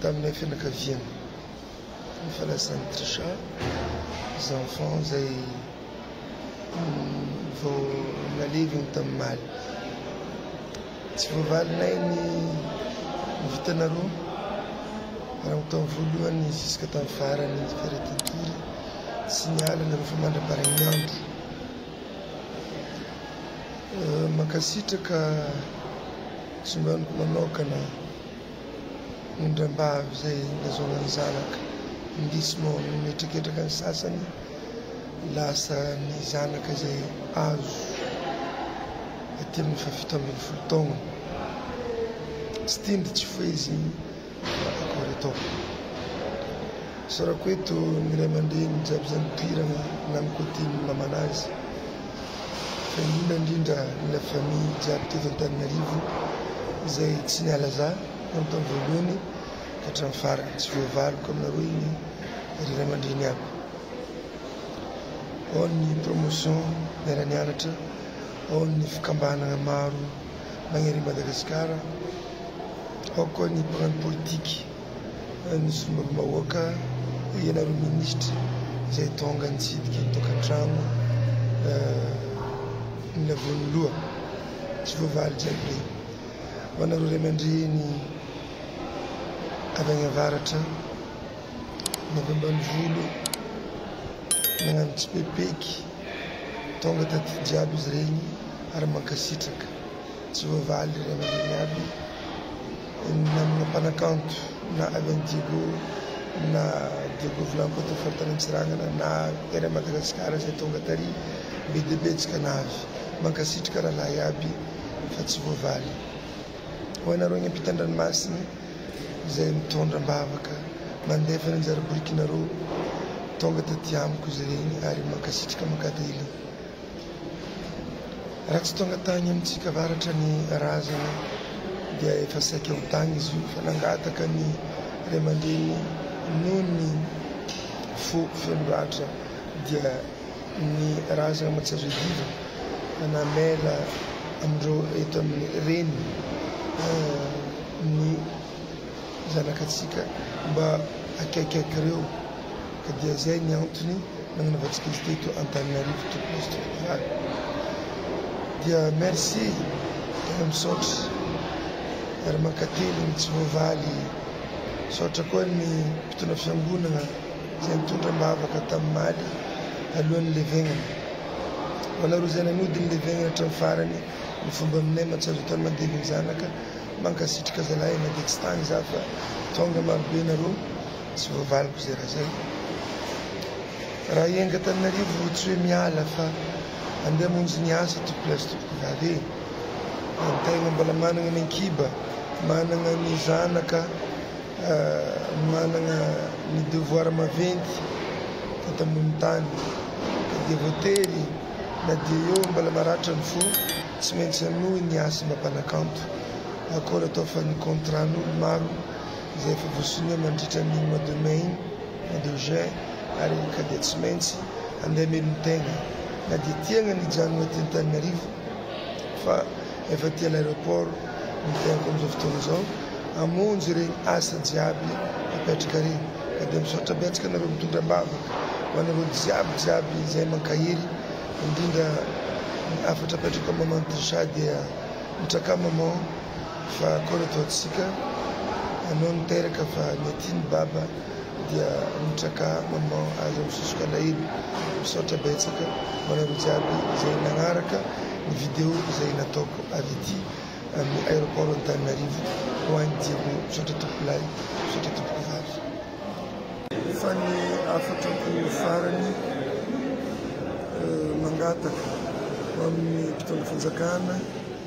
tamin'ilay fianakaviany ny falasan'i Trisha, les enfants izay vao naleviny tamin'omaly. Tsy voavalinay ny vintana roa hatramin'ny taona voalohany ziska tamin'ny faran'ny faritin-tory sy ny alina rehefa mandra-parain'ny andro. Mankasitraka Tsy mba amiko manokana ny indrambavy izay nazahoana ny zanaka indrisy moa ny mihetraketraka ny sasany lasa ny zanaka izay azo aty amin'ny fahafito ambin'ny folo taogna tsy tindry tsy foezigny Koritov. Isaorako eto ny ray aman-dreny jiaby izay nipoirana na mikoty ny mamana azy fa indrindra indrindra ny la famille jiaby teto Antananarivo izay tsy niala za na ny tamin'ny voalohany ka hatramin'ny farany. Tsy voavaliko aminareo iny ry ray aman-dreny aby. Ao ny promotion miara-nianatra, ao ny fikambanana maro. manery an'i Madagasikara, ao koa ny mpagnano politika, ny solombavambahoaka, ianareo minisitra izay tonga nitsidika ny tokantrano ny lavon'ny loha, tsy voavaly jiaby ireny. Ho anareo ray aman-dreny avy any avaratra na avy ambanivolo nagnano tsipepeiky, Tonga taty jiaby izy regny ary mankasitraka tsy voavaly ry aman'geny aby namana mpanakanto na avy any Diego na Diego Vlampa teo faritany Antsirangana na tery a Madagasikara zay tonga tary be dia be jikanavy mankasitraka rahalahy aby fa tsy voavaly ho anareo any ampitan-dranomasiny izay mitondra am-bavaka mandefa ny anjara biriky nareo tonga taty amiko izy ireny ary mankasitraka makadily raha tsy tonga tany amintsika avaratra ny razana dia efa saika ho tany izy io fa nangataka ny ray aman-dreny noho ny fo feno ratra dia ny razana aman-tsy azo iadiva na mail amin'ireo eto amin'ny reny ny zanakatsika mba akaikaiky ireo ka dia izay ny antony nagnanaovantsika izy teto Antananarivo to post federal dia merci tena misaotra ary mankateligny tsy voavaly misaotra koa ny mpitondra fiangonagna izay nitondra am-bavaka tamin'i Maly talohan'ny nilevegnany. Ho anareo izay nanody nilevegnany hatramin'ny farany ny fomba aminay mantsy azo atao ny mandevy ny zanaka, mankasitraka zalahy e, maditsy tagny za fa tonga marobe nareo tsy voavaliko izay raha zay. Raha hienga Antananarivo tsy hoe miala fa andeha hamonjy ny asa tompoko lahy sy tompoko vavy e, ny tegna mbola managna ny an-kiba, managna ny zanaka, Manana ny devoir maventy teto ambony tany ny devotery na dia eo mbola maratra ny fo tsy maintsy hanohy ny asa mba mpanakanto akory atao fa ny contrat n'olo maro izay efa voasonia mandritra ny mois de mai mois de juin ary ka dia tsy maintsy handeha melon-tegna na dia tiagna ny hijanona eto Antananarivo fa efa aty à l'aéroport ny fiaiko amin'izao fotoana izao hamonjy ireny asa jiaby apetraka ireny ka dia misaotra betsaka anareo mitondra am-bavaka ho anareo jiaby jiaby izay mankahery indrindra ny hafatra apetrako amin'i maman Trisha dia mitraka maman fa akao ilay tohantsika anao niteraka fa ny aty ny baba dia mitraka maman azo am sosoka alahelo misaotra betsaka hoanareo jiaby zay nagnaraka ny video zay nataoko avy ety amin aeroport Antananarivo hoany Diego misaotra tompoko lahy misaotra tompoko vavy. Fa ny hafatrako farany mangataka ho amin'ny mpitondra fanjakana,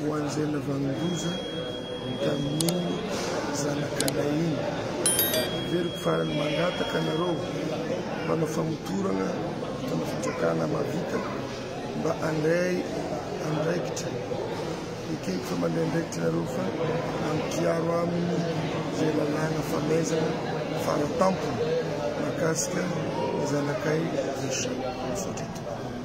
Ho an'izay navanon-doza tamin'iny zanakalahy iny. Heveriko fa ny mangataka anareo mpanao famotorana mpitondra fanjakana mahavita mba handray andraikitra. Ekeko fa mandray andraikitra ianareo fa ampiaro aminy izay lalàna famaizana fara tampony mahakasika ny zanakay Richard. Misaotra indrindra.